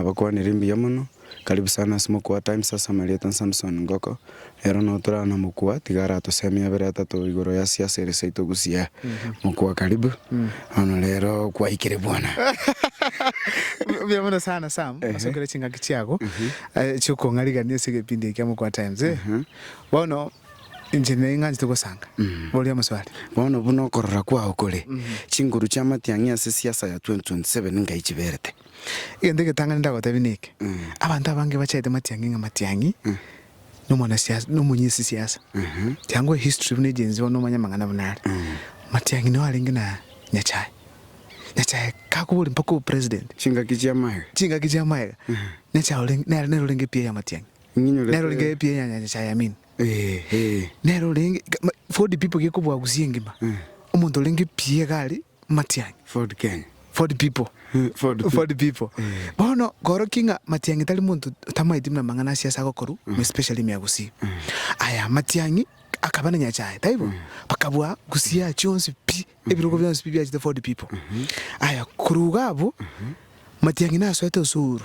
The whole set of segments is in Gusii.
Nabakwanire mbuya mono. Karibu sana ase mokwa wa Times ase amarieta Samson Ngoko. Ero nao torara na mokwa, tiga aratosee emiabera etato igoro ya siasa ere seito gusii. Mokwa karibu. Bono rero kwaikire bwana. Mbuya mono sana Sam, ase okera chingaki chiago chiokong'arigania ase egepindi ekia mokwa Times. Bono inche ning'anchete gosanga. Boria amoswali. Bono buna okorora kwao kore, chinguru chiamatiang'i ase siasa ya 2027 ngai chiberete? Egento egetang'ani ndagoteebia neke, abanto abange bachete matiang'i ng'a matiang'i nomonasiasa nomonyesisiasa. Chiango ehistory buna egenzi bono omanye amang'ana buna are. Matiang'i nigo arenge na Nyachae. Nyachae kakoboria mpaka obe president. Chingaki chia maega. Chingaki chia maega. Nyachae orenge nere nere orenge epiya ya matiang'i. Nere orenge epiya ya Nyachae Amin. Nere orenge Ford people gekoboagusia engima omonto orenge pi egari matiangi Ford Kenya Ford people Ford people bono koroki ng'a matiangi tari monto tamaeti buna mang'ana asia ase agokoru especially miagusi aya matiangi akaba na nyachae taibo bakabua gusia chionsi pi ebirogo bionsi pi biachete Ford people aya koruga abwo matiangi nasoete osuru.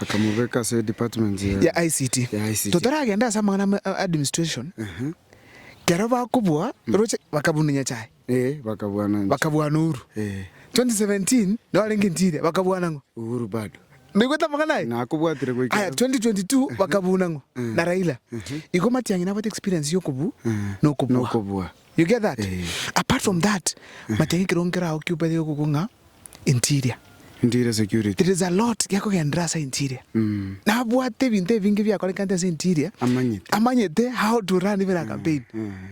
Akamobeka ase edepartment ya. Ya ICT. Ya ICT. Totaragenda ase amang'ana ama administration, Ehe. kero bakobua roche bakabuna Nyasaye, Ee, bakabwana nche. bakabwana Uhuru. Ee. 2017 nabo barenge ntire bakabwana ng'o? Uhuru bado. Naigwete amang'ana aye? Nakobwatire goika Aya, rero. 2022 bakabuna ng'o? Na Raila. Igo matiang'i nabwate experience ya okobu na okobua. Nokobua. You get that? Apart from that, manya ng'a ekerogo nkere agwo kiubaete gegokoigwa ng'a interior. Interior security. There is a lot gekogenderera ase interior. Nabwate ebinto ebinge ebiakorekanete ase interior. Amanyete. Amanyete how to run even a campaign.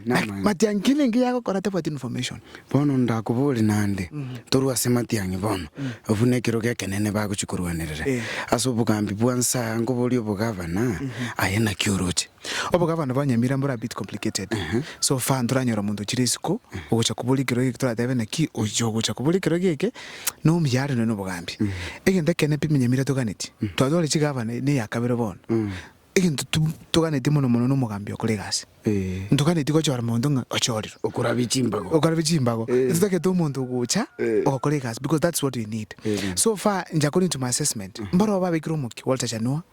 Namanya. Matiang'i kende enke yagokora tabwati information. Bono ndakobore naende, torue ase matiang'i bono, abwo nekerogo ekenene bagochia korwanerera. Ase obogambi bwa Nsaa, nkoboria obogavana, aye naki oroche? Obogavana bwa Nyamira mbore a bit complicated. So far ntoranyora omonto ochire isiko ogocha kobora ekero geke toratebe naki ochia ogocha kobora ekero geke na omuya are nonya na obogambia. Egento ekenene pi Nyamira toganetie, twatwara chigavana ne eya kabere bono, egento toganetie mono mono na omogambia okora egasi. Ntoganetie gochora monto ng'a ochorire. Okorabia chimbago. Okorabia chimbago. Totagete omonto ogocha ogokora egasi because that's what we need. So far, inche according to my assessment, mboro babeikire omokia, Walter Chanua,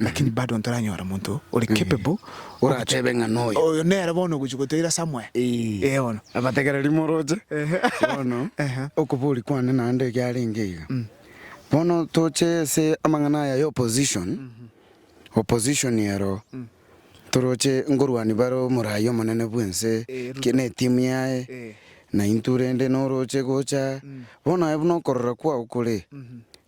Lakini bado ntoranyora omonto ore capable Orateebe ng'a noyo. Oyo nere bono ogochia gotoira somewhere. Ee bono. Abategereri moroche bono okobori kwane naende ekiarenge iga. Bono toche ase amang'ana aya ya opposition, opposition ero toroche nkorwania bare omorai omonene bwense ki ne team yaye naintwe rende noroche gocha bono aye buna okorora kwao kore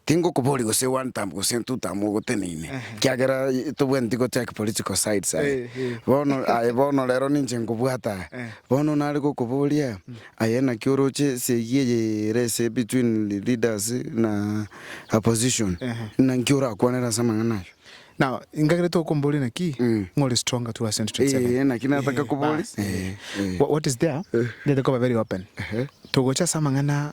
Tingokoboria gose one term gose two term ogoteneine kiagera tobwenereti go take political sides aye bono aye bono rero ninche nkobwata bono nare gokoboria aye naki oroche esegi eye ere ase between leaders na opposition naki orakwanere ase amang'ana ayio. Now ngakere tokomboria naki ng'a ore stronger towards 2027. Eeh naki nataka koboria eeh. What is there nere koba very open togocha ase amang'ana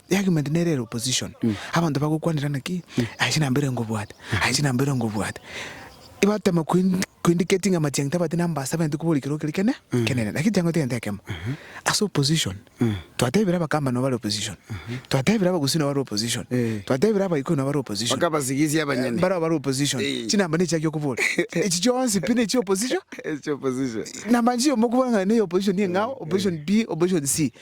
The argument nere ere opposition. Abanto bagokwanirana ki? Aye chinamba ere ngobwate. Aye chinamba ere ngobwate. Batema kuindi- kuindicatinga amachiang'e tabati namba ase abanyete kobori ekero kere kene kenene. Lakini chiang'ete egento ekemo. Ase opposition, twatebire abakamba nabo bare opposition. Twatebire abagusii nabo bare opposition. Eh. Twatebire abaikoi nabo bare opposition. Mpaka abasigisia abanyene. Barabwo bare opposition. Eh. Chinamba nechiaki okobora. Echi chionsi pi nechia opposition. Echia opposition. Namba nchio mokobora ng'a neye opposition niye ng'ao, opposition B, opposition C.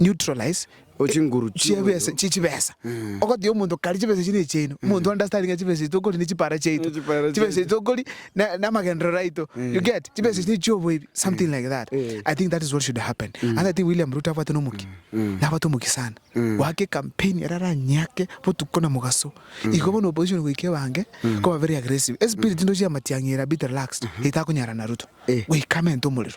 neutralize, chibesa, chibesa, ogotebia omonto kare chibesa echi nechiaino, omonto understandinge chibesa echi tokori ne chipara chiaito, chibesa echi tokori namagenderero aito, you get, chibesa echi nechioboibi, something like that, I think that is what should happen, ase I think William Ruto abwate nomokia, nabwate omokia sana, goaka ecampaign ere aranyake botuko na mogaso, igo bono opposition goika ebange koba very aggressive, espirit ndoche ya matiang'i ere a bit relaxed, etakonyara na Ruto, goika amente omorero.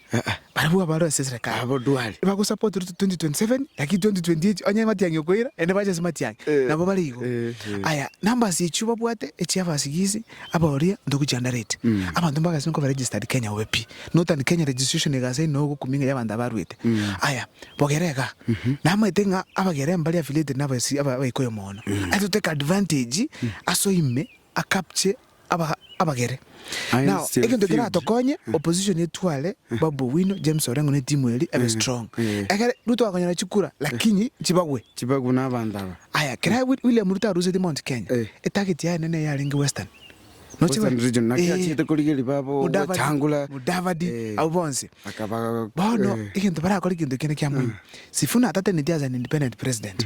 Barabwo abarure ase esereka abo ndwari bagosapotire 2027 lakini 2028 onye matiang'i okoira naende bache ase matiang'i nabo bare igo. Aya numbers echio babwate echia abasigisi abaoria ntoku chiandarete. Abanto mbagasimeka koba registered Kenya obe pi. Northern Kenya registration egasa inwe ogokumi ng'a y'abanto abaruete. Aya bogere iga namaete ng'a abagere mbare affiliated na abaikuyu mono. Aye totake advantage aso ime Akabche abagere. Now egento keratokonye opposition etware Babu Owino, James Orengo ne timu eria ebe strong. Ekero Ruto akonyora chikura lakini chibagwe. Chibagwe na abanto aba. Aya kera William Ruto arusetie Mount Kenya, etarget yaye nene yarenge Western. Noche bari. Western region naki achiete korigeria Babu Wetangula. Mudavadi abwo bonsi. Akaba. Bono egento barakore egento ekiya ne kiamoino. Sifuna atatenetie as an independent president.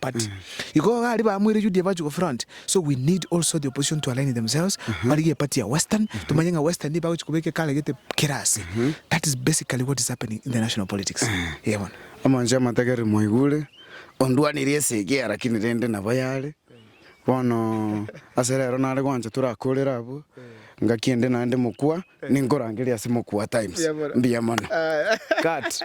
But igo iga aria bamoire UDA bachia go front so we need also the opposition to align themselves barigie party ya Western tumanye ng'a Western niyo bagochia kobeka ekaregete kera ase that is basically what is happening in the national politics Iye bono. Omonche amategere mwaigure, ondwanirie esegi lakini rende nabo yare. Bono ase rero nare gwancha torakorere abwo, ngaki ende naende mokwa, ninkorangeria ase mokwa times. Mbuya mono. Cut.